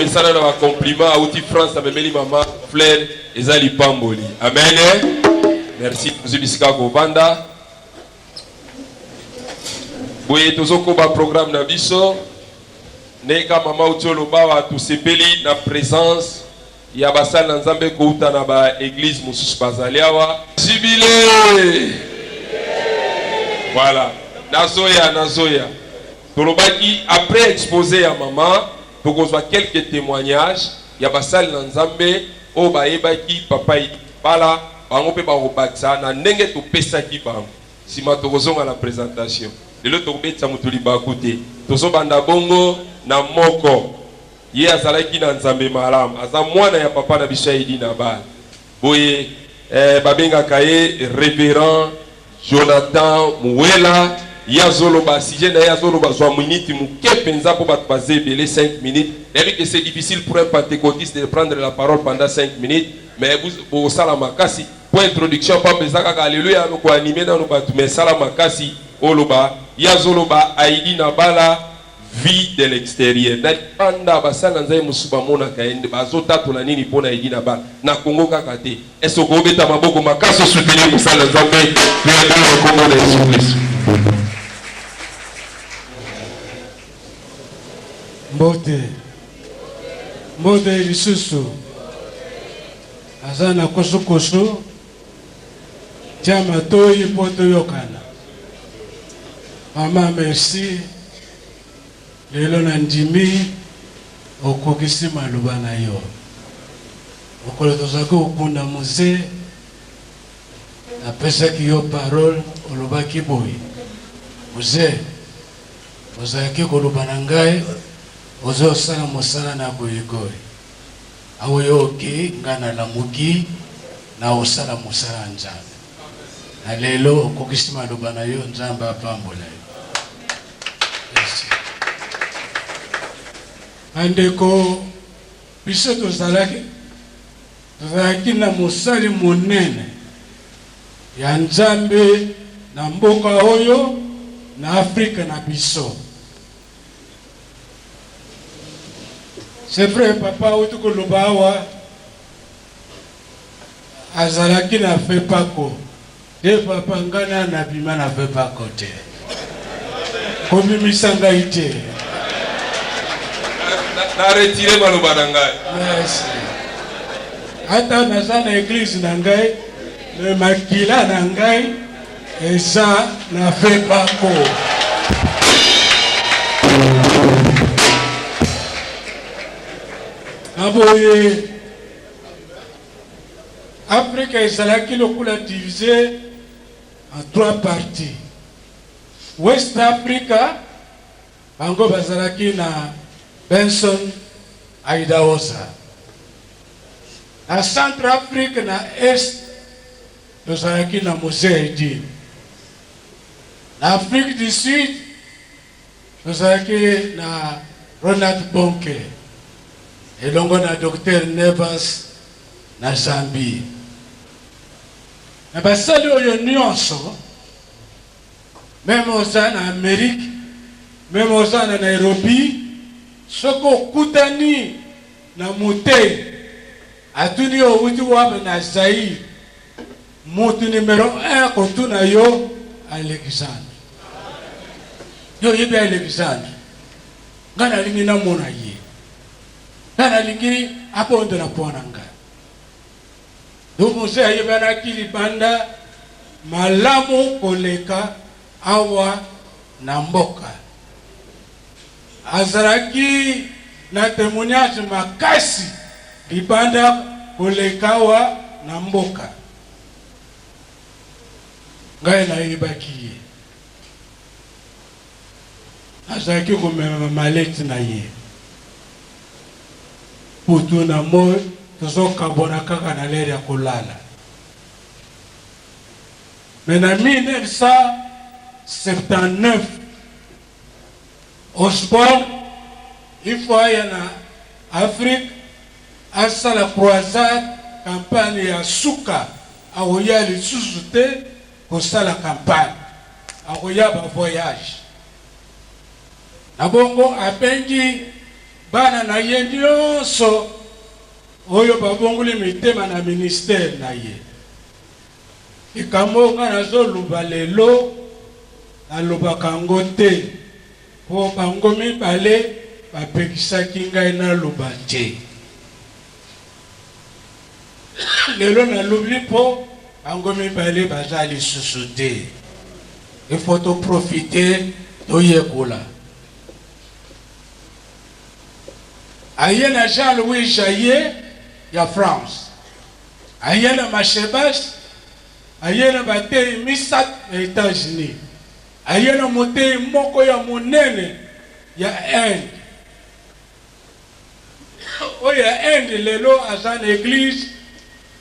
asala na bacompliment auti france amemeli mama flaire eza lipamboli amen merci tozwi bisika kovanda boye tozokoba programme na biso ndenge ka mama uti olobawa tosepeli na présence ya basali na Nzambe kowuta na ba eglises mosusu bazali awa. Jibile! Voilà. Nazoya, nazoya. Tolobaki après expose ya mama tokozwa quelques temoignages ya basali na Nzambe oyo bayebaki papa Idi Kabala, bango mpe bakobakisa na ndenge topesaki bango. Sima tokozonga na presentation. Lelo tokobetisa moto libaku te. Tozobanda bongo na moko. Ye azalaki na nzambe malamu, aza mwana ya papa na biso ya Elie Nabal. Boye eh, babengaka ye Reverend Jonathan Muela. Ye azoloba sujet na ye, azoloba zwa minute moke mpenza mpo bato baza ebele 5 minutes. Nayebi que c'est difficile pour un pentecotiste de prendre la parole pendant 5 minutes, mais bosala makasi mpo introduction pamba eza kaka aleluya, ko animer nanu bato, mais sala makasi oloba. Ye azoloba Aidi Nabala. Vue de l'exterieur na libanda ba sali na nzambe mosusu ba monaka ye nde bazo tatola nini pona Eddy na bana na congo kaka te est ce oko beta maboko makasi o soutenir mosali na nzambe pe ya bino na kombo na yesu klisto. Mbote mbote lisusu aza na kusu kusu. Tya matoyi mpo toyokana. Maman merci lelo na ndimi okokisi maloba na yo. Mokolo tozalaki kokunda musee napesaki yo parole olobaki boye musee ozalaki koloba na ngai ozosala mosala na goyigoyi. Awa yo ok nga na lamuki na kosala mosala ya nzambe na lelo okokisi maloba na yo nzambe apambola yo merci bandeko biso tozalaki tozalaki na mosali monene ya nzambe na mboka oyo na afrika na biso C'est vrai papa auti koloba awa azalaki na fepako te papa ngai na nabima na fepako te kobimisa ngai te na retire maloba na ngai merci ata naza na eglise na ngai me makila na ngai Et ça n'a fait pas court. Aboye Afrika ezalaki lokola divise en trois parties. West Africa bango bazalaki na Benson Idahosa. Na Centre Afrique na Est Tozalaki na Muzeidi na Afrique du Sud, tozalaki na Ronald Bonke elongo na Docteur Nevers na Zambie. Na basali oyo nyonso, meme oza na Amerique, meme oza na Nairobi, soki okutani na motei Atuni yo owuti wapi na Zaïre? Mutu numero un kotuna yo Alexandre. Yo oyebi Alexandre? Nga nalingi namona ye. Nga nalingi abondela mpo na nga. Yo mose ayebanaki libanda malamu koleka awa na mboka. Azalaki na temoignage makasi libanda koleka awa na mboka. Ngai nayebaki ye. Azalaki komema ba mallettes na ye. Butu na moi tozokabwana kaka na l'heure ya kolala. Mais na 1979, Osborn il faut aya na Afrique asala croisade campagne ya suka akoya lisusu te kosala campagne akoya ba voyage na bongo abengi bana na ye nionso oyo babongoli mitema na ministère na ye. Likambo oyo nga nazo loba lelo nalobaka yango te po bango mibale ba pekisaki ngai naloba te. Lelo nalobi po bango mibale baza lisusu te. Il faut to profiter toyekola. Aye na Jean Louis Jaye ya France. Aye na Mashebash, aye na bateyi misato ya Etats-Unis, aye na moteyi moko ya monene ya Inde. Oyo ya Inde lelo aza na eglise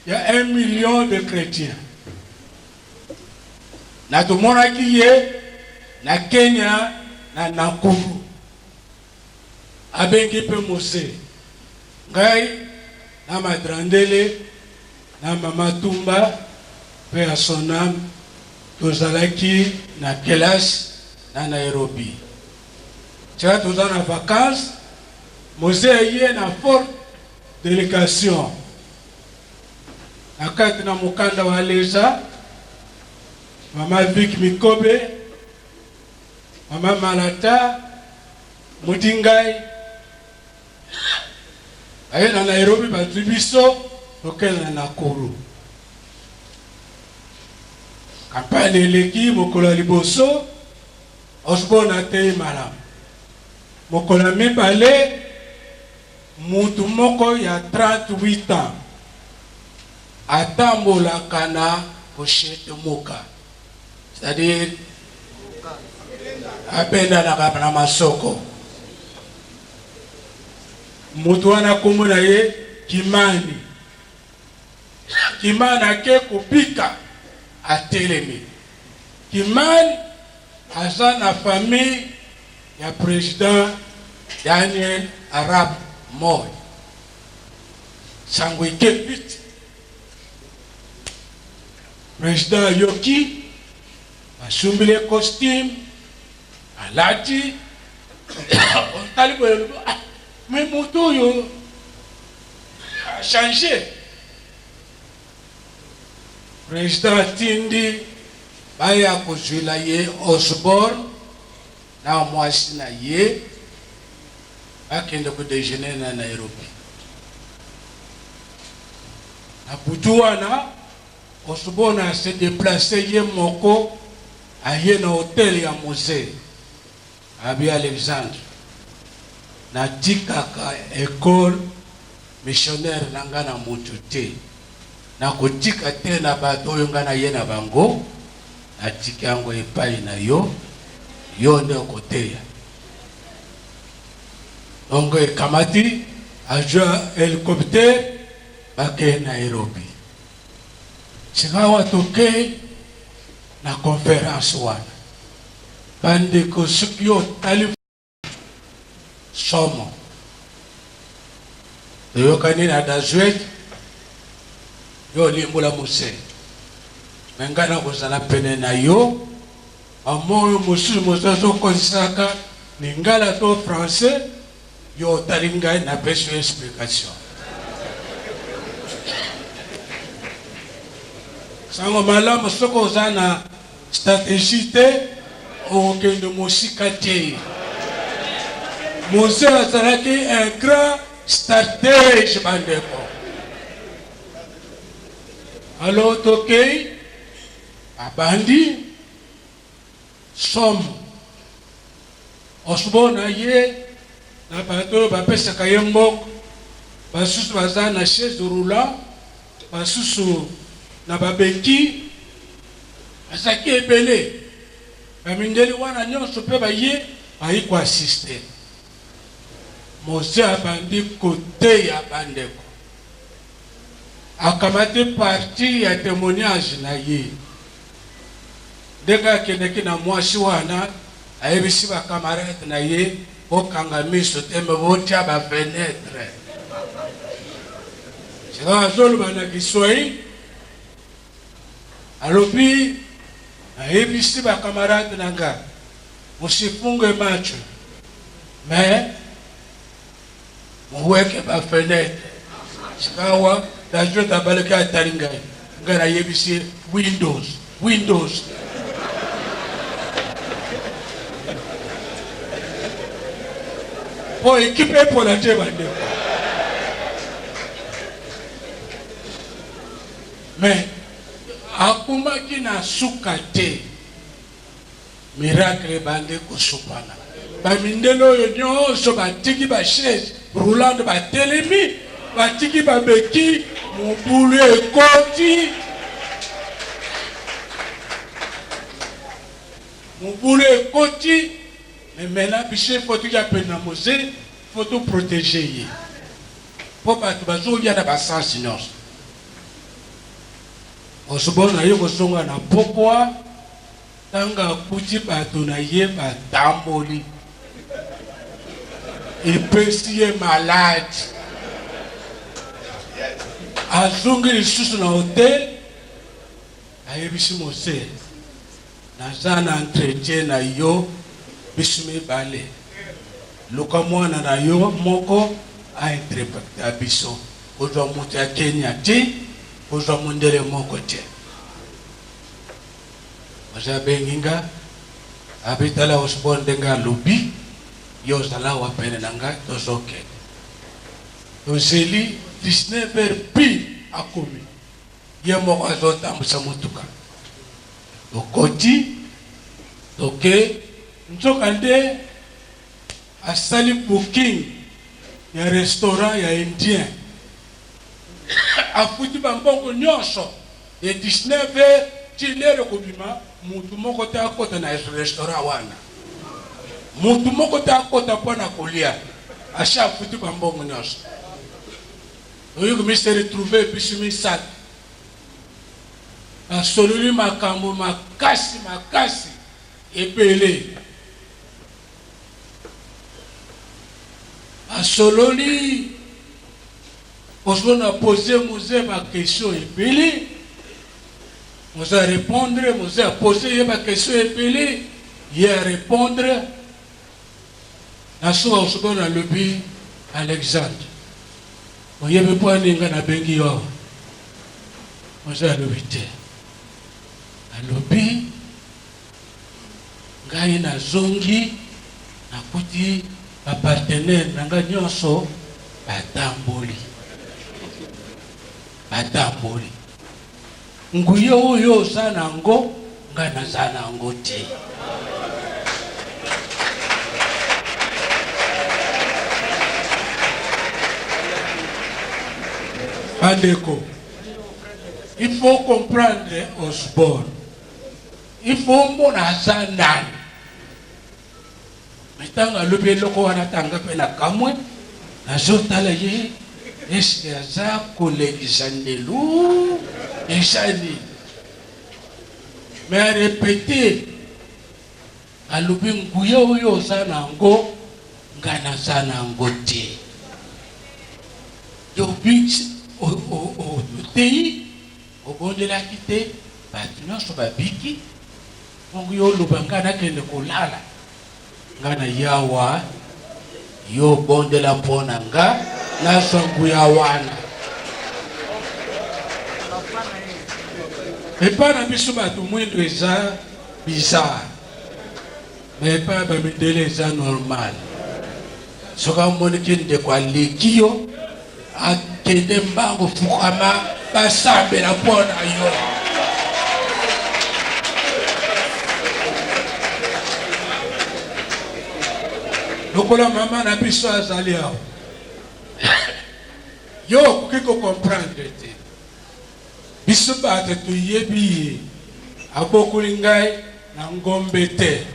ya un million de chretiens. Na tomonaki ye na Kenya na Nakuru. Abengi pe Mose, ngai na Madrandele na Mama Tumba, paix à son ame, tozalaki na kelasi na Nairobi. Tika toza na vacances, Mose aye na forte delegation na kati na mokanda wa Leza, Mama Vic Mikobe, Maman Malata mudi ngai aye na Nairobi bazui biso tokende na Nakuru. Campagne eleki mokolo ya liboso Osborne ateyi malamu. Mokolo ya mibale mutu moko ya 38 ans atambolaka na pochette moka. C'est à dire abendanaka na masoko moto wana kombo na ye kimani kimani ake kobika atelemi kimani aza na famille ya président daniel arab moy sango eke piti President ayoki, asumbi le costume, alati, otali boye olobi ah, mais moto oyo a change. President atindi baya kozwila ye Osborne na mwasi na ye bakende ko dejeuner na Nairobi. Na butu wana, Osborn a se deplacer ye moko aye na hotel ya Musee Abbe Alexandre. Natikaka ecole missionnaire na ngai na mutu te. Nakotika te na bato oyo ngai naye na bango, natiki yango epayi na yo, yo nde okoteya. Tongo ekamati, azua helicopter bakei Nairobi. Sikawa tokei na conference wana, bandeko soki otali. somo toyokani na dazuel yo olimbola muse me ngai nakozala pene na yo amoyo mosusu mosusu okozisaka lingala to français yo otali ngai napesi yo explication sango malamu soki oza na Strategie te okokende mosika te. Mose azalaki un grand stratege bandeko. Alo tokei abandi somo osbo na ye na bato oyo bapesaka ye mbongo basusu baza na chaise roulant Basusu na babeti bazalaki ebele, ba mindele wana nionso pe baye, baye ko assister. Mose abandi koteya ba ndeko, akamati partie ya temoignage na ye. Ndenge akendeki na mwasi wana, ayebisi ba camarades na ye, Bokanga miso te, mais botia ba fenetres. Sikawa azoloba na Kiswahili, alobi, Nayebisi ba camarades na nga, musifunge macho, mais. Moweke ba fenetre sikawa na jota abalaki atali ngai ngai na yebisi ye windows windows. Po ekipe epola te bandeko. Mais akomaki na suka te. Miracle ebandi kosopana. Ba mindele oyo nionso batiki ba chaise roulante batelemi, batiki ba bequille, mobulu ekoti. Mobulu ekoti. Mais maintenant biso il faut toya pene na Moze, il faut to proteger ye. Po bato bazoya na ba sens nionso. Osubona ye kozonga na pokwa. Tango akuti bato na ye batamboli, epesi ye maladi. Azongi lisusu na hotel, ayebisi Mose, Naza na entretien na yo bisu mibale, luka mwana na yo moko a interpreta biso. Kozwa moto ya Kenya te, kozwa mondele moko te. Mose abengi nga abi tala Osborn ndenge alobi yo ozala awa pene na nga tozo kende tozeli 19 heure pile akomi ye moko azo tambusa mutuka tokoti toke nzoka nde asali booking ya restaurant ya indien afuti ba mbongo nionso De 19 heures ti l'heure ekobima mutu moko te akota na restaurant wana. Mutu moko te akota mpo na kolia. Asi afuti ba mbongo nionso. Oye komi se retrouver biso misato. Basololi makambo makasi makasi ebele. Basololi. Parce qu'on a posé Mose ba question ebele, Mose a repondre, Mose a posé ye ba question ebele, ye a repondre. Na suka suka na lobi Alexandre, oyebi mpo ani nga na bengi yo awa? Mose alobi te, alobi Ngai na zongi nakuti ba partenaires na ngai nionso ba tamboli ba tamboli nguya oyo yo oza na yango ngai naza na yango te. Bandeko, il faut comprendre Osborne. il faut omona aza nani me ntango alobi eloko wana tanga mpe nakamwe nazotala ye eske aza kolekisa ndelu eza nini me arepete alobi nguya oyo oza na yango nga naza na yango te yobi oteyi Obondelaki te batu nionso babiki bongo yo oloba nga nakende kolala nga na yawa yo bondela pona nga nazwa nguya wana epa na biso batu mwindo eza bizarre Mais epai ya ba mindele eza normal soki omoni ki ndeko aleki yo akende mbango fukama basambela mpo na yo lokola mama na biso azali awa yo okoki kokomprendre te Biso bato toyebi ye. Abokoli ngai na ngombe te.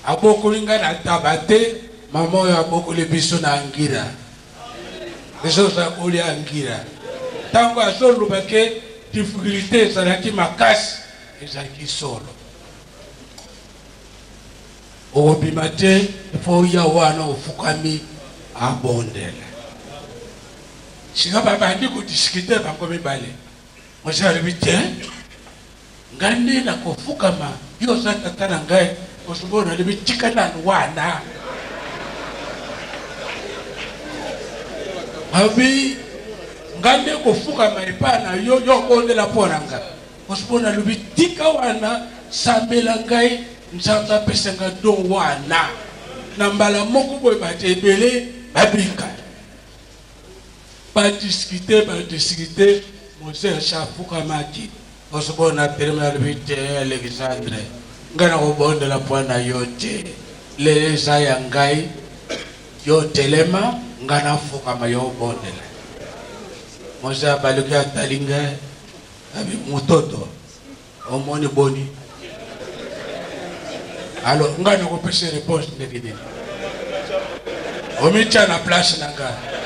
Abokoli ngai na ntaba te. Mama oyo abokoli biso na ngira. Biso tozala kolia ngira. Ntango azoloba ke difficultes ezalaki makasi, ezalaki solo. Okobima te il faut oya wana ofukami abondela sika babandi kodiskute bango mibale mwasi alobi te ngai nde nakofukama yo oza tata na ngai osobo nalobi tika nanu wana abi ngai nde kofukama epai na yo yo obondela mpo na ngai Parce que nalobi tika wana sambela ngai nzambe apesa nga don wana na mbala moko boye bato ebele babika badiskite badiskite moses afukamaki osoko na telema nalobi te alexandre ngai nakobondela mpo na yo te lelo eza ya ngai yo telema ngai nafukama yo obondela moses abaluki atali ngai Ami mutoto omoni boni? Alors ngai nakopesa reponse ndenge nini? Omitya na place na ngai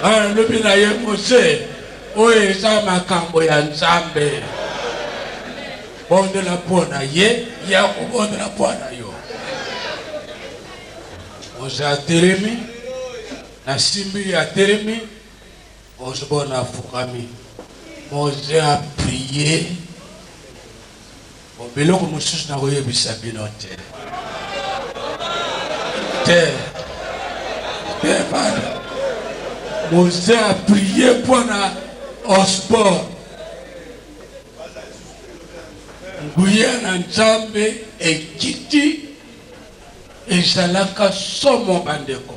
nalobi na ye mose oyo eza makambo ya Nzambe bondela mpo na ye ye akobondela mpo na yo oza atelemi nasimbi ye atelemi Osborn afukami, Moze a prier, bon biloko mosusu nakoyebisa bino te te te bana Moze a prier mpo na Osborn. Nguya na Nzambe ekiti ezalaka somo bandeko.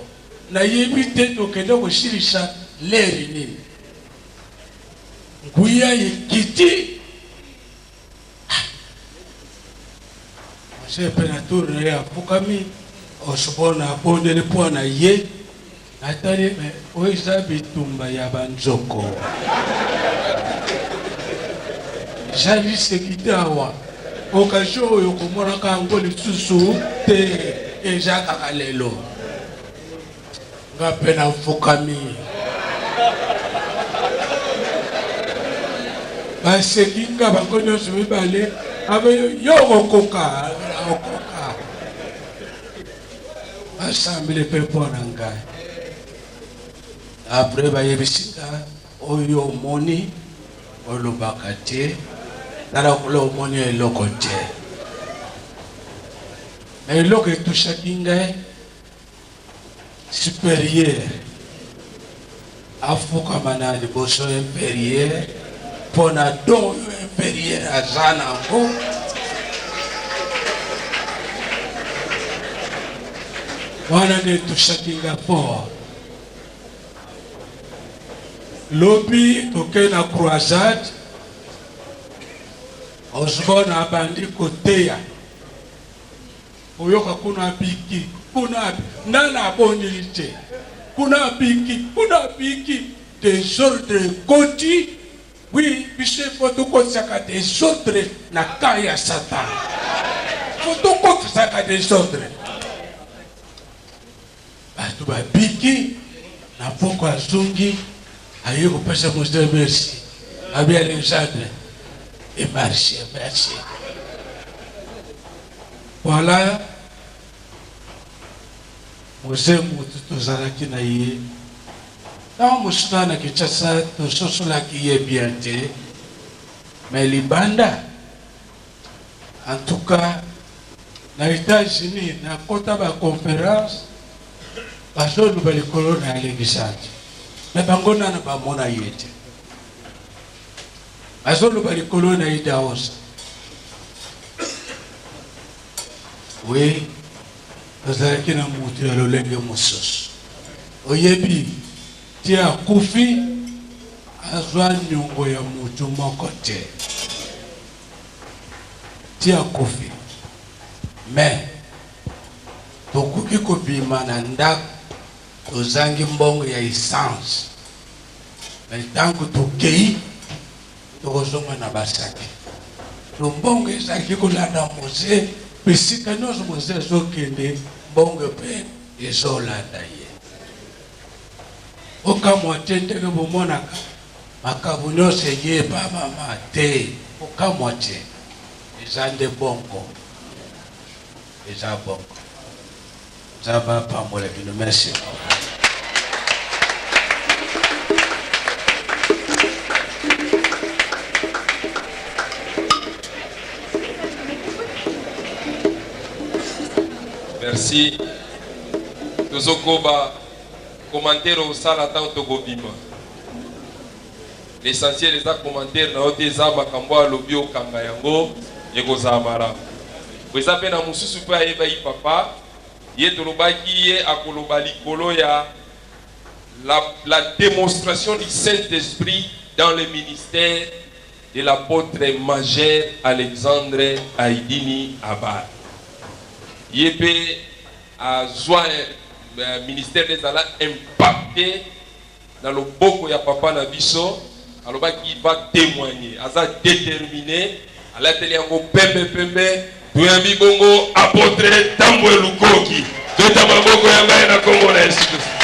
Na yebi te tokende kosilisa l'heure nini? Nguya ekiti ah! Mose pe na tour na ye afukami, Osborne abondeli po na ye, natali me oyo eza bitumba ya ba nzoko eza liseki te awa. Occasion oyo okomonaka yango lisusu te, eza kaka lelo. Nga mpe nafukami. Baseki nga bango nyonso mibale, abe yo okokoka, okoka. Basambeli mpe mpo na ngai. Après bayebisi nga Oyo omoni olobaka te na lokola omoni eloko te na eloko etushaki ngai superieur afukama na liboso inferieur mpo na don oyo inferieur aza nango wana nde etushaki ngai fort Lobi tokei na croisade, Osborne abandi koteya oyoka kuna abiki kuna ndana abondeli te kuna abiki kuna abiki desordre ekoti wi biso efo tokotisaka desordre na ka ya satana fo tokotisaka desordre Batu babiki na pokua azongi aye kopesa mosdre merci abi Alexandre et marche merci voilà mose mutu tozalaki na ye ntango mosusu na na Kinshasa tososolaki ye bien te mais libanda En tout cas na etats unis na kota ba conference bazo loba likolo na Alexandre mais bango nana ba mona ye te bazo loba likolo na Idaosa oui tozalaki na mutu ya lolenge mosusu oyebi Ti akufi azwa niongo ya mutu moko te ti akufi mais tokoki kobima na ndako tozangi mbongo ya essence mais ntango tokei tokozonga na basaki to mbongo ezalaki kolanda moze mpe sika nyonso moze ezokende mbongo mpe ezolanda ye Bokamwa te ndenge bomonaka makambo nyonso eyebamama te. Bokamwa te. Eza nde bongo. Eza bongo. Nzambe apambola bino. Merci. Merci. Tozo koba commentaire osala tango toko bima. L'essentiel eza commentaire na yo te eza makambo oyo alobi okanga yango ekozala malamu. Po eza pe na mususu pe ayebaki papa ye tolobaki ye akoloba likolo ya la demonstration du Saint Esprit dans le ministère de l'apotre majeur Alexandre Aidini Abad. Ye pe azua ministère des ala impacte na loboko ya papa na biso alobaki va temoigner aza determine alateli yango pembe pembe toyambi bongo apotre tambwe lukoki beta maboko ya ngai na kongo na yesu kristo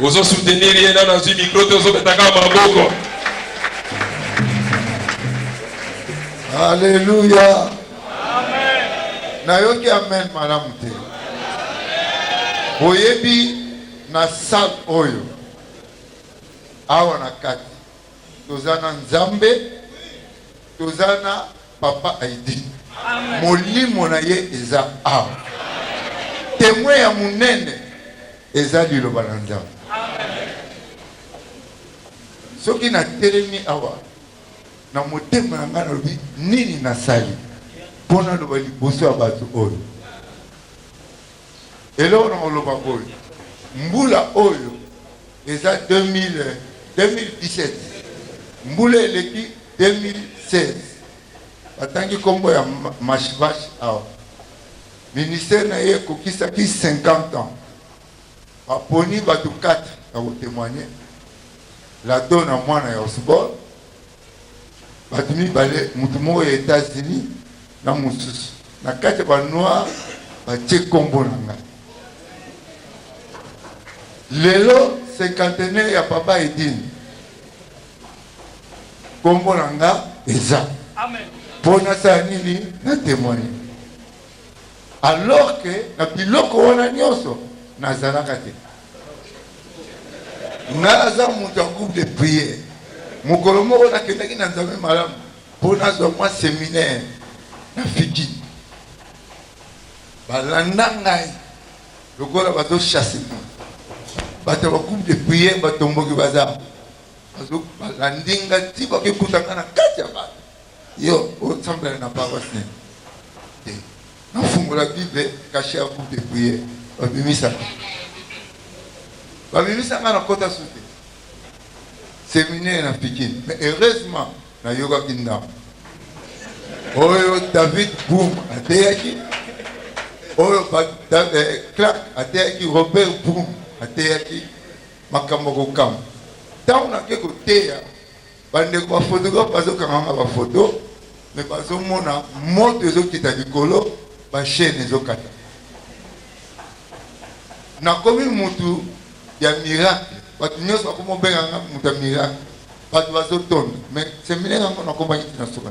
ozo soutenir ye nano azwi micro te ozobetaka maboko aleluya nayoki amen malamu te boyebi na sale oyo awa na kati toza na nzambe toza na Papa Heidi, molimo na ye eza awa. Temoin ya monene eza liloba na Nzambe. Soki natelemi awa na motema na ngai nalobi nini nasali mpo naloba liboso ya bato oyo Eloko na koloba boye mbula oyo eza 2017 mbula eleki 2016 batangi kombo ya mashvash awa ministère na ye ekokisaki 50 ans baponi batu 4 ya ko temoigner lado na mwana ya osborne Bato mibale, moto moko ya Etats-Unis na mosusu na kati ya ba noir, batie nkombo na ngai. Lelo cinquantenaire ya Papa Edine, nkombo na nga eza mpo nasala nini? Na temoigne. Alors que na biloko wana nionso nazalaka te. Nga aza mutu ya groupe de prière. Mokolo moko nakendaki na Nzambe malamu po nazwa mwa seminaire na Fidji. Balanda ngai lokola bazo chasse ngai. Bato ya ba groupe de prière batomboki baza balandi nga ti bakekuta nga na kati ya bato. Yo osambela na paroisse nini? Te. Nafungola bible cache à vous de prière. Babimisa. Babimisa nga na kota sute. Seminaire na Pikine. Mais heureusement na yoga kindam. Oyo David Boom ateyaki. Oyo eh, Clark ateyaki Robert Boom ateyaki makambo kokamba. Ntango nake koteya Bandeko ba photographe bazokanga nga ba photo me bazomona moto ezokita likolo bachaine ezokata nakomi mutu ya miracle bato nyonso bakomi obenga nga moto ya miracle bato bazotonda me seminaire yango nakomaki tina soka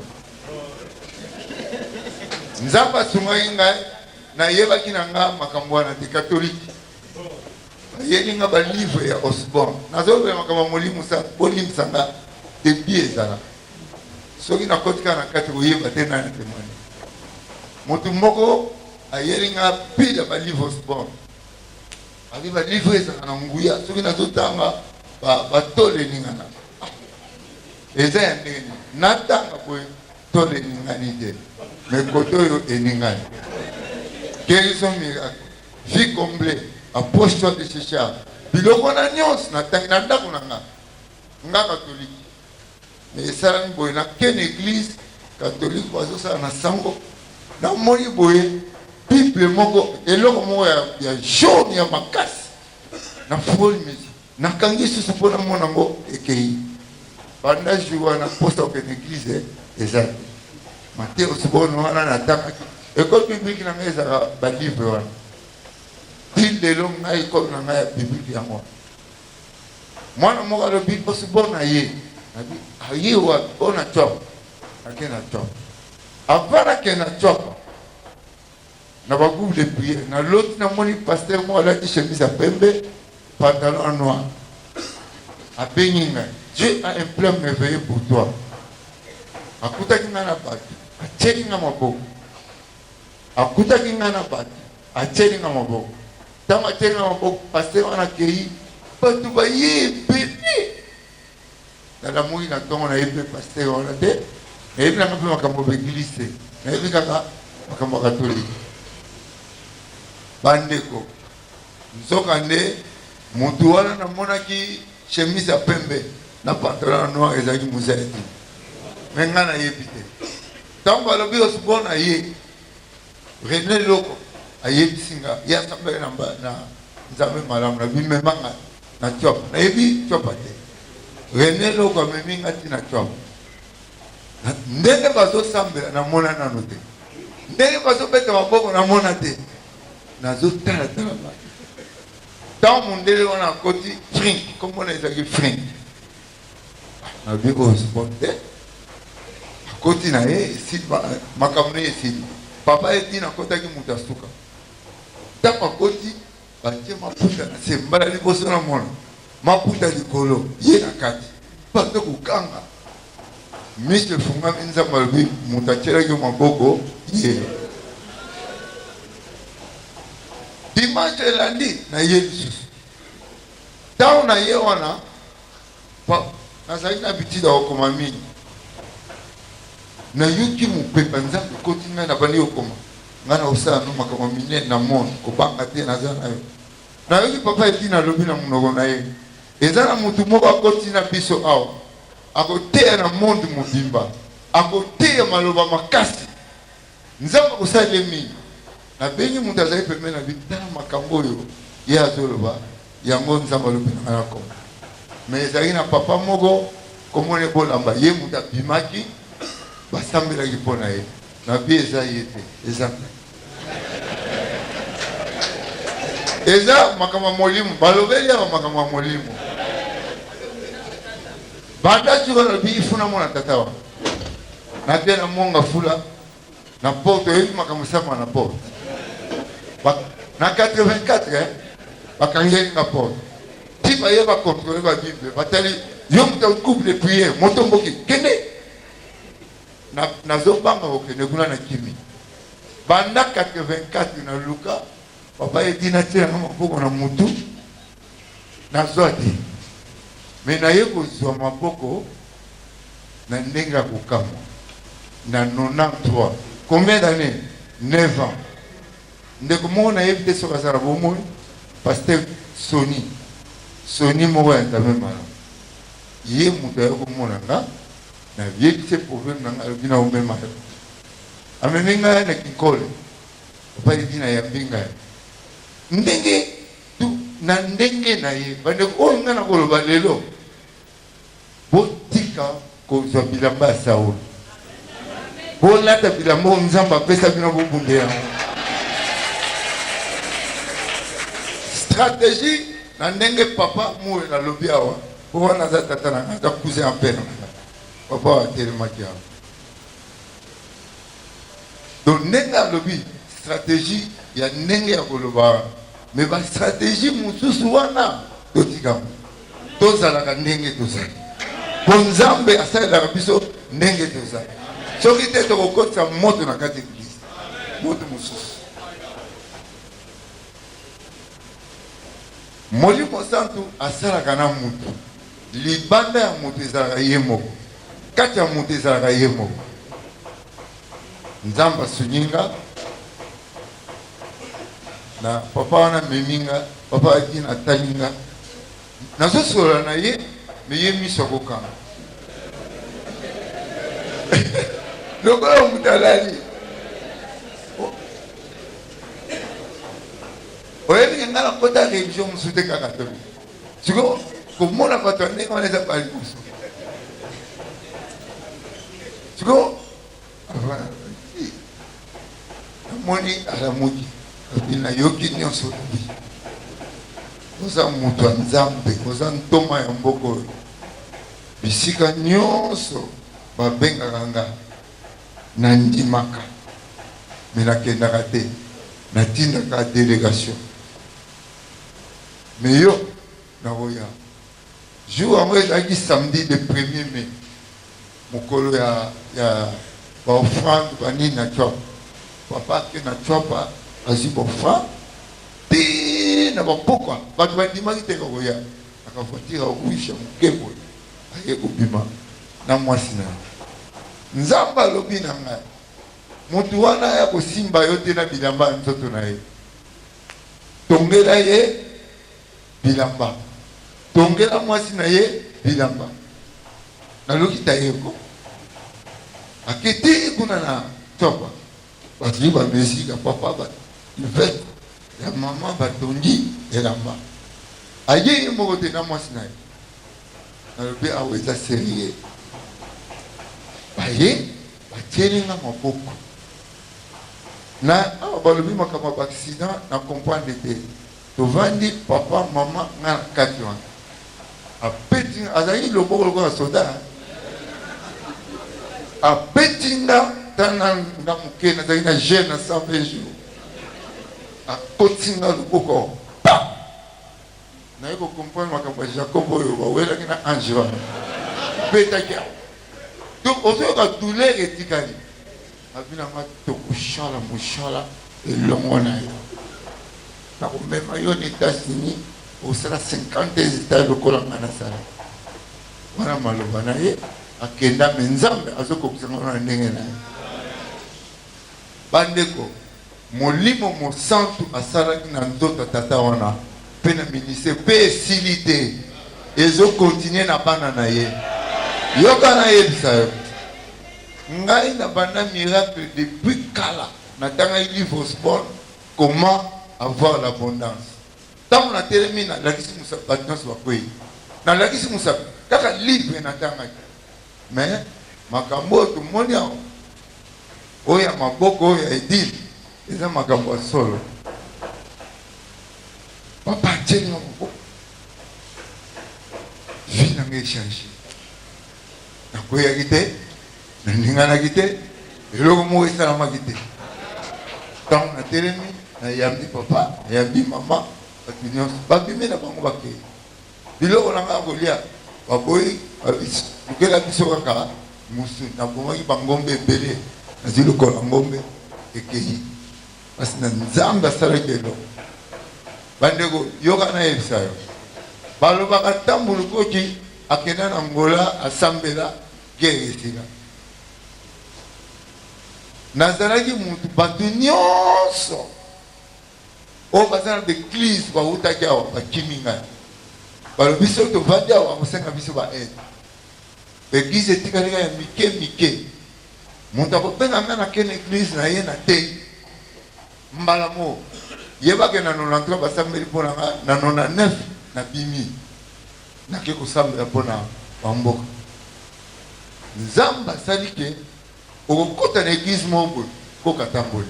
nzambe asungaki ngai nayebaki na nga makambo wana te katolike bayeli nga ba livre ya osborne nazolobela makambo ya molimo sa bolimbisa nga ebi ezala soki nakoti kaka na kati koyeba te nani atemwani motu moko ayeli nga pile ya ba livre osborne abi ba livre ezalaka na nguya soki nazotanga batole eningana ah, eza ya ndenge nini natanga boye tole eningani te me kote oyo eningani kelison miracle Vie comble a poche toi de chercher a biloko wana nyonso na tangi na ndako na nga nga katoliki me esalami boye na ken eglise katolike bazosala na sango namoni boye bible moko eloko moko ya, ya jaune ya makasi na foli mesi Nakangi susu mpo namona yango ekeyi banda jour wana mposa okende eglise eza te mateus bono wana natangaki ekole biblike na ngai ezalaka balivre wana ti lelo ngai ekole na ngai ya biblike yango wana mwana moko alobi mposi bona ye nabi aye wapi ona cop ake na cop avant nake na cop na ba groupe de prière na loti na moni pasteur moko alati chemise ya pembe pantalon ya noir abengi ngai Dieu a un plan merveilleux pour toi akutaki ngai na bato atieli ngai maboko akutaki ngai na bato atieli ngai maboko ntango atieli ngai maboko pasteur wana akei bato baye ebele Dada moyi na tongo na yebi pe pasteur wana te na yebi nanga pe makambo ba eglise te na yebi kaka makambo ya katolike bandeko nzoka nde mutu wana na monaki chemise ya pembe na pantalon ya noir ezalaki mozali te me ngai na yebi te ntango alobi osbona ye Rene Loko ayebisi nga ye asambela na mba- na Nzambe malamu na bimema nga na Tshuapa nayebi Tshuapa te Rene Loko amemi nga ti na Tshuapa Na- ndenge bazo sambela na mona nano te ndenge bazo beta maboko na mona te nazo tala tala ba ntango mondele wana akoti frink kombo na ezalaki frink alobi oyo sport te akoti na ye makambo na ye esili papa ye tina akotaki moto ya suka ntango akoti batie maputa na se mbala liboso na mona maputa likolo ye na kati bato kokanga miso efungami nzambe alobi moto atyelaki maboko ye dimanche elandi na ye lisusu ntango na ye wana Papa, nazali na habitude ya kokoma mingi. Nayoki mopepe ya Nzambe ekoti ngai, nabandi kokoma. Ngai nakosala no makambo minene na monde, kobanga te, naza na yo. Nayoki papa Edina alobi na monoko na ye, eza na motu moko akoti na biso awa, akoteya na monde mobimba, akoteya maloba makasi. Nzambe akosalela ye mingi. Nabengi moto azali pembeni na bino, tala makambo oyo ye azoloba, yango Nzambe alobi na ngai nakoma. Me ezalaki na papa moko, kombo na ye Bolamba, ye moto abimaki, basambelaki mpo na ye. Nabi eza ye te, eza ngai. Eza makambo ya molimo, balobeli awa makambo ya molimo. Banda tika nalobi, ifuna mona tata wana. Na bia na mwanga fula na porte oyebi makambo sama na porte na 84 eh, bakangeli nga porte ti baye bakontrole babible batali yo moto couple de priere motomboki kende nazobanga kokende kuna na kimi banda 84 na luka papa edina tielanga maboko na motu Nazwa te, mais naye kozwa maboko na ndenge ya kokamwa na 93 combien d'annees? 9 ans ndeko moko nayebi te soki aza na bomoi pasteur soni soni moko ya nzambe malamu ye moto aye komona nga na yebisi ye problème na nga alobi na omema yo amemi ngai na kinkole epai dina yambi ngai ndenge Tu na ndenge na ye. Bandeko oyo nga nakoloba lelo, botika kozwa bilamba ya Saul. Bolata bilamba oyo Nzambe apesa bino bobunde yango. Strategie na ndenge papa Muela alobi awa, po wana aza tata na nga, aza cousin ya père na nga. Papa oyo atelemaki awa. Donc ndenge alobi strategie ya ndenge ya koloba wana me bastrategie mosusu wana totikamo tozalaka ndenge tozali po nzambe asalelaka biso ndenge tozali soki te tokokotisa moto na kati eglise moto mosusu Molimo Santu asalaka na mutu. Libanda ya mutu ezalaka ye moko. Kati ya mutu ezalaka ye moko. Nzambe asungi nga na papa wana amemi nga. Papa Adin atali nga. Nazo solola na ye mais ye miso akokanga. Lokola mutu alali. oyebi ke ngai nakota religion mosusu te kaka katolike siko komona bato ya ndenge wana eza bala liboso siko namoni alamuki abi nayoki nyonso lobi oza moto ya nzambe oza ntoma ya mboka oyo bisika nyonso babengaka ngai Na ndimaka mais na kendaka te na tindaka delegation mais yo nako ya jour yango ezalaki samedi le premier mai mokolo ya ya ba offrande ba nini na tshuapa papa ake na tshuapa azwi ba offrande ti na ba pokwa bato ba ndimaki te nako ya naka voiture ya rouge ya moke boye Aye kobima na muasi na ye. Nzambe alobi na ngai, Mutu wana aya kosimba yo te na bilamba ya nzoto na ye. Tongela ye bilamba. Tongela muasi na ye bilamba. Naluki Tayeko. Akiti kuna na sofa. Bazui ba mesure ya papa, ba cuvette ya mama, batongi elamba. Aye ye moko te na muasi na ye. Nalobi awa eza serie. Baye batieli nga maboko na awa balobi makambo ya ba accident na comprendre te. Tovandi papa mama nga na kati wana abeti nga azalaki loboko lokola soda abeti nga tana nga moke nazalaki na jeune na 120 jours akoti nga loboko Naye ko comprendre makambo ya Jacob oyo ba welaki na ange wana betaki yango donc ozoyoka douleur etikali abi na nga tokosala mosala elongo na yo nakomema yo na etats-unis osala 50 etat lokola nga nasala wana maloba na ye akenda me nzambe azokokisa ngo na ndenge na ye bandeko Molimo Mosantu asalaki na nzoto ya tata wana pe na ministere, pe esili te, ezo continuer na bana na ye. Yoka nayebisa yo, ngai na banda miracle depuis kala, natangaki livre Osborne, Comment avoir l'abondance. Tango natelemi nalakisi mosapi, batu nionso bakweyi, nalakisi mosapi, kaka livre natangaki. Mais makambo oyo tomoni awa. Oyo ya maboko oyo ya edil eza makambo ya solo papa atieli nga maboko vie na nga echange nakweyaki te naninganaki te eloko moko esalamaki te ntango natelemi nayambi papa nayambi mama bato nyonso babimi na bango bakei Biloko na ngai ya kolia baboyi balukela biso kaka musu. Nabomaki bangombe ebele, nazwi lokolo ya ngombe ekeyi kasi na Nzambe asalaki eloko. Bandeko, yoka nayebisa yo, balobaka ntango Lukoti akenda na Angola asambela guerre esila. Nazalaki mutu bato nyonso oyo baza na ba eglise bawutaki awa bakimi ngai balobi soki tovandi awa bakosenga biso ba aide ba eglise etikali ngai ya mike mike moto akobenga ngai na kene eglise na ye na tei mbala moo yebake na 93 basambeli mpo na ngai na 99 na bimi nake kosambela mpo na bamboka nzambe asali ke Okokota na eglise moko boye coq atamboli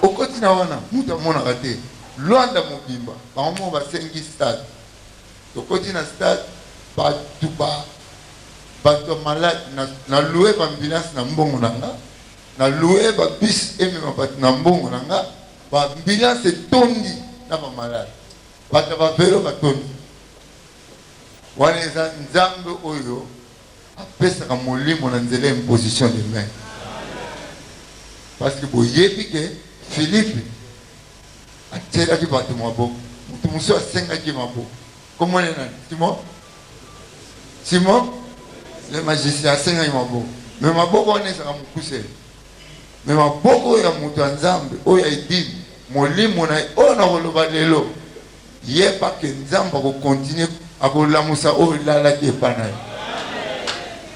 okoti na wana mutu amonaka te luanda mobimba bango moko basengi stade tokoti na stade batu ba batu ya malade na na loue ba ambulance na mbongo na nga na loue ba bus emema batu na mbongo na nga ba ambulance etondi na ba malade batu ya ba velo batondi wana eza nzambe oyo apesaka molimo na nzela ya imposition de main parceque boyebi ke Philippe atielaki bato maboko moto mosusu asengaki maboko kombo ne nani simon simon le magicien asengaki maboko me maboko wana ezalaka mokuse me maboko oyo ya moto ya nzambe oyo ya edini molimo na ye oyo nakoloba lelo Yeba que Nzambe ako continuer ako lamusa oyo elalaki epa na yo.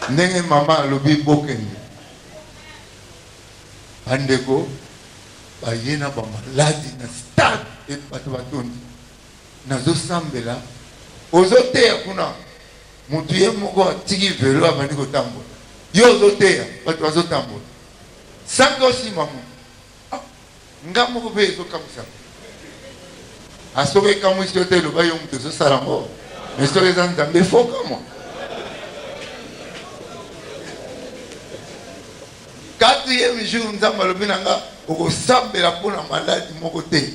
Ndenge mama alobi bokende. Ba ndeko baye na ba maladi na stade et bato batondi. Nazo sambela ozo teya kuna motu ye moko atiki velo abandi kotambola yo ozoteya bato bazotambola sango nsima motu Ah, nga moko pe ezo kamwisa nga. Ah, soki ekamwisi yo te loba yo mutu ezo sala ngo. Mais soki eza Nzambe faut kamwa. Quatrième jour Nzambe alobi na nga okosambela mpo na maladi moko te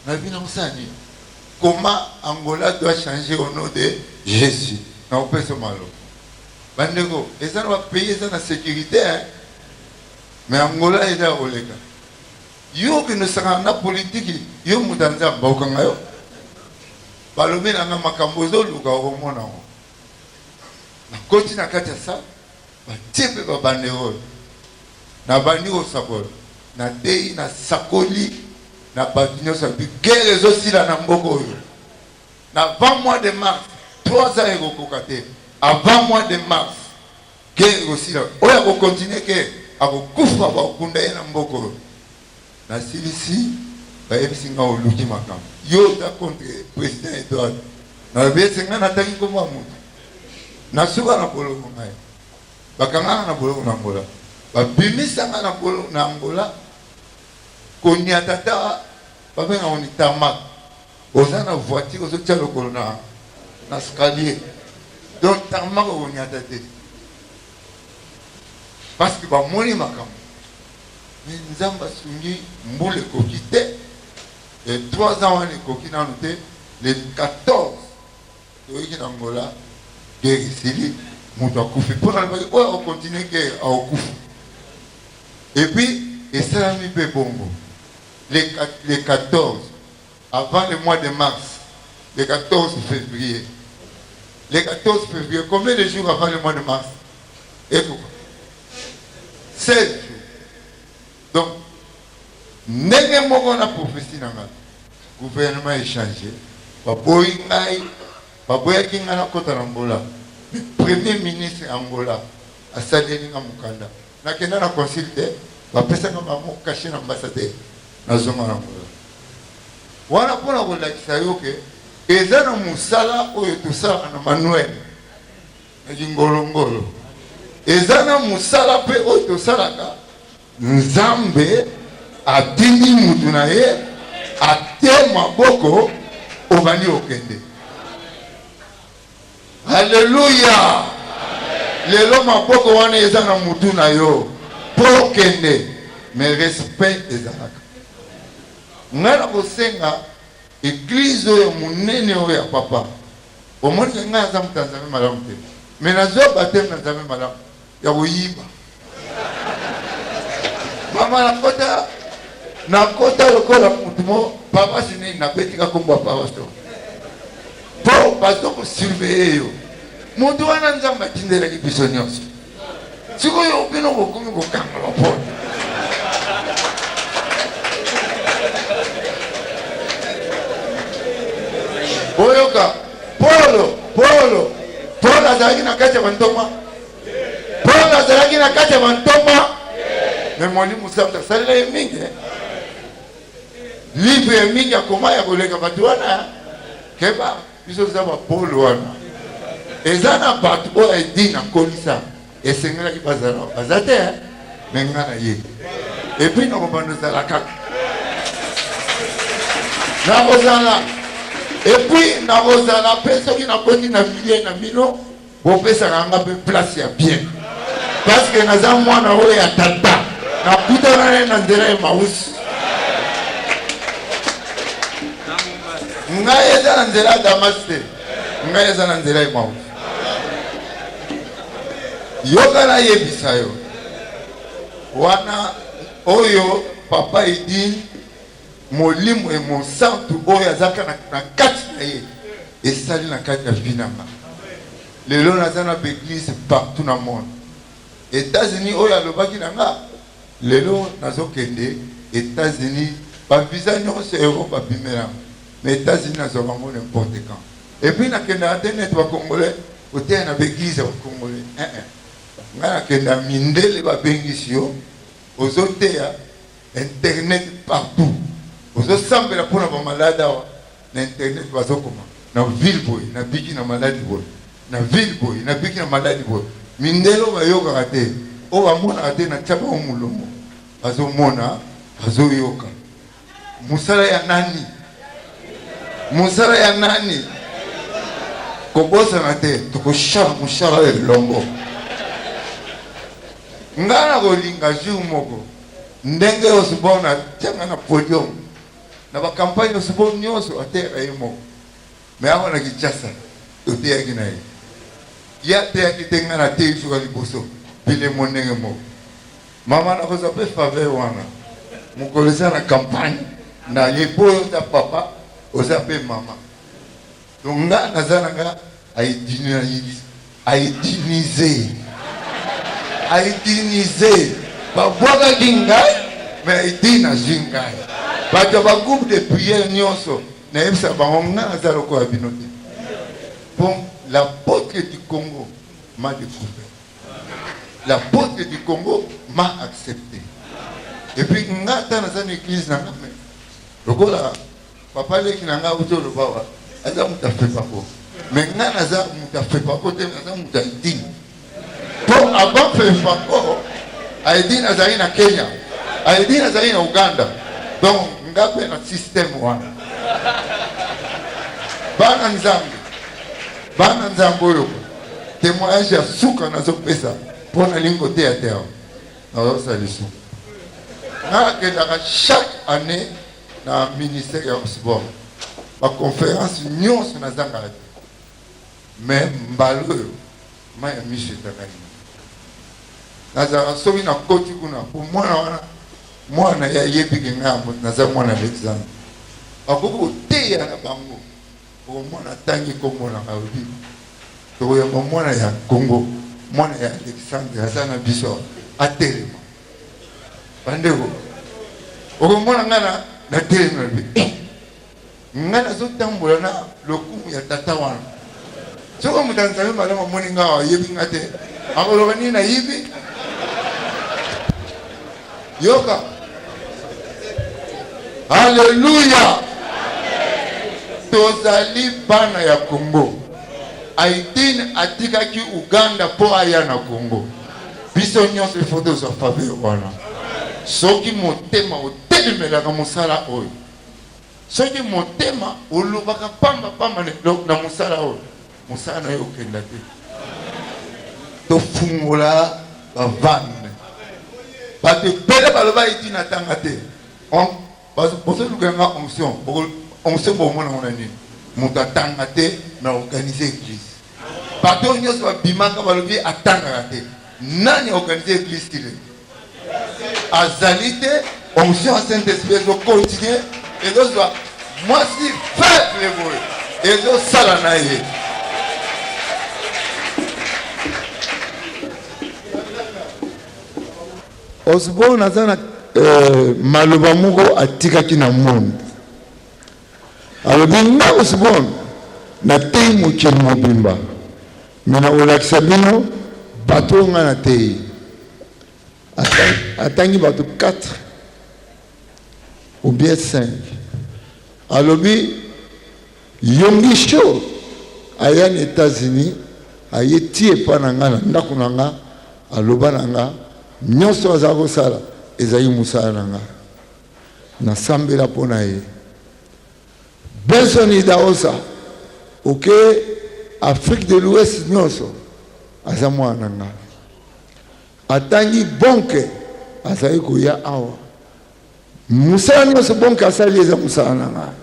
nayebi na kosala nini comment angola doit changer au nom de jésus na kopesa maloba bandeko eza na bapays eza na sécurité hein? Mais Angola eza ya koleka. Yo okende osangana na politiki yo moto ya Nzambe bakokanga yo. Balobi na nga makambo ozoluka okomona yango. Nakoti na kati ya sala batie mpe babanderole nabandi kosakola nateyi nasakoli na bato nyonso ya bigere ezosila na mboka oyo na 20 mois de mars 3 ans ekokoka te avant mois de mars Ken ekosila oyo ako continue ke ako kufa bako kunda ye na mboka oyo na silisi ba yebisi nga oluki makambu yo oza contre president Edouard na lobi ese nga na tangi kombo ya mutu na suka na boloko ngai ba kanga nga na boloko na Angola ba bimisa nga na boloko na Angola koniata ata ba benga ngo ni tarmac Oza na voiture ozo tia lokolo na na scalier donc tarmac okonyata te parce que bamoni makambo mais nzambe asungi mbula ekoki te e 3 ans wana ekoki nanu te le 14 toyeki na ngola guerre esili moto akufi mpo nalobaki oyo akokontinue guerre akokufa epuis esalami mpe bongo le 14 avant le mois de mars le 14 fevrier le 14 fevrier combien de jours avant le mois de mars ekuba 16 jours donc ndenge moko na prophetie na ngai gouvernement echange baboyi ngai baboyaki ngai nakota na angola premier ministre angola asaleli nga mokanda Na kenda na consul te ba pesa nga ba mot cache na ambassadeur na zonga na angola wana pona ko lakisa yo ke eza na musala oyo tosalaka na manuel na kingolo ngolo eza na musala pe oyo tosalaka nzambe atindi mutu na ye ate maboko obandi okende Alleluia lelo maboko wana eza na mutu na yo po kende mais respect ezalaka nga na kosenga eglise oyo munene oyo ya papa omoni nga aza mutu ya nzambe malamu te mais nazua bateme na nzambe malamu ya koyiba mama nakota nakota lokola motu mo paroisse nini nabetika kombo ya paroisse to mpo bazo kosurveye yo motu wana nzambe atindelaki biso nyonso sikoyo bino bokomi kokanga bapona boyoka polo polo polo azalaki na kati ya bantoma Paul azalaki na kati ya bantoma me molimo santo asalela ye mingi eh. livre ya mingi akoma ya koleka bato wana keba biso toza bapole wana eza na bato oyo edi nakolisa esengelaki bazala baza te eh. me nga na ye epui nakobanda ozala kaka nakozala epui nakozala mpe soki nakoti na milie na bino bopesaka nga mpe place ya bien paske naza mwana oyo ya tata nakutana naye na nzela ya mausi ngai eza na nzela ya damas te ngai eza na nzela ya mausi yoka nayebisa yo wana oyo papa edine Molimo ya Mosantu oyo azalaka na, na kati na ye esali na kati ya vie na nga. Lelo naza na baeglise partout na monde. Etats-Unis oyo alobaki na nga, lelo nazokende Etats-Unis, ba visa nyonso ya Europe babimela nga. Mais Etats-Unis nazwa bango n'importe quand. Et puis nakendaka te neti ba Congolais koteya na baeglise ya ba Congolais. Eh eh. Nga nakenda mindele babengisi yo, ozoteya Internet partout ozo sambela pona ba malade awa na internet bazo koma na ville boye na biki na maladi boye na ville boye na biki na maladi boye mindele oyo bayokaka te oyo bamonaka te na tia bango molongo bazo mona bazo yoka mosala ya nani mosala ya nani kobosana te tokoshala mosala elongo ngai nakolinga jour moko Ndenge Osborne atia nga na podium na ba campagne Osborne nionso ateyaka ye moko mais awa na Kinshasa toteyaki na ye ye ateyaki te nga nateyi suka liboso bilemo ndenge moko mama nakozwa pe faveur wana mokolo eza na campagne na ye po oza papa oza pe mama. Donc nga naza na nga aidinize aidinize babwakaki ngai mais aidine azwi ngai bato ya bagroupe de prière nyonso nayebisa bango nga naza lokola bino te bon l'apôtre du congo m'a découvert l'apôtre du congo m'a accepté epuis nga ata naza na église na nga lokola Papa leki na nga uzo loba wa aza mutu afepa ko me nga naza mutu afepa ko te naza mutu ya idini po avant fepa ko aidi nazali na Kenya aidi nazali na Uganda donc nga pe na système wana bana nzambe bana nzambe oyo témoignage ya suka nazopesa mpo nalingi koteya te awa nazosala lisumu nakendaka chaque année na ministère ya sport baconférence nyonso nazangaka te mais mbala oyo mai ya miso ezangani nazalaka soki nakoti kuna mpo mwana wana mwana ye ayebike ngai yango naza mwana alexandre bakoki koteya na bango okomona atangi nkombo na kaobi tokoyamba mwana ya kongo mwana ya alexandre aza na biso atelema bandeko okomona ngai na natelemi na bi eh, ngai nazotambola na lokumu ya tata wana soki moto anzambe malamu amoni ngai awa ayebi ngai te akoloba nini nayibi yoka aleluya tozali bana ya kongo aitine atikaki uganda mpo aya na kongo biso nyonso ifo tozwa faveur wana soki motema otelemelaka mosala oyo soki motema olobaka pamba pamba na mosala oyo mosala na yo okenda te tofungola bavane bato ebele baloba eti natanga te Bazo bozo luka nga onction boko onction bo mona mona nini moto atanga te mais organiser église bato nyonso babimaka balobi atangaka te nani organiser église ti lelo azali te onction ya saint esprit ezo continue ezozwa mwasi faible boye ezosala na ye Osborne aza na euh, maloba moko atikaki na monde alobi nga Osborne nateyi mokili mobimba me nakolakisa bino bato oyo ngai nateyi atangi bato 4 ou bien 5 alobi Yonggi Sho aya na Etats-Unis, aye ti epai na ngai na ndako na ngai, aloba na ngai, Nyonso azali kosala ezali mosala na ngai. Nasambela mpo na ye. Benson Idahosa, oke Afrique de l'Ouest nyonso, aza mwana na ngai. Atangi Bonke, azali koya awa. Mosala nyonso Bonke asali eza mosala na ngai.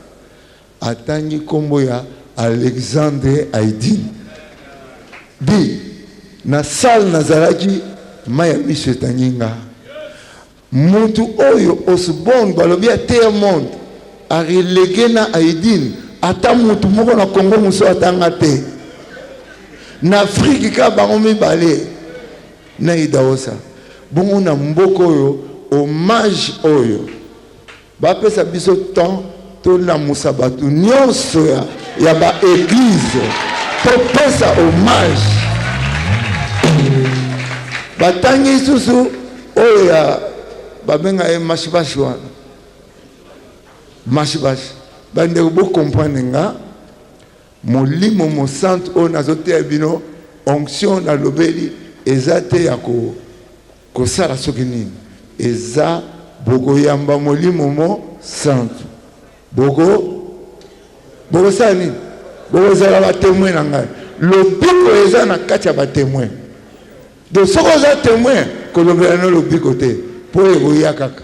Atangi kombo ya Alexandre Aydin. Dit na salle nazalaki mayi ya miso etangi nga. Mutu oyo Osborne balobi ateya monde a releguer na Aydin ata mutu moko na Congo mosusu ata nga te. Na Afrique kaka bango mibale na Idawosa. Bongo na mboka oyo hommage oyo. Ba pesa biso temps to lamusa batu nionso ya, ya ba eglise to pesa hommage. Batangi susu oyo ya babenga ye mashibashi wana mashibashi bandeko bokomprane nga molimo mosantu oyo nazoteya bino onction nalobeli eza te ya ko Kosala soki nini eza bokoyamba molimo mo santu boko bokosala nini bokozala batemoin na ngai lobiko eza na kati ya batemoin do soki oza temoin kolobela no lobiko te mpo ekoya kaka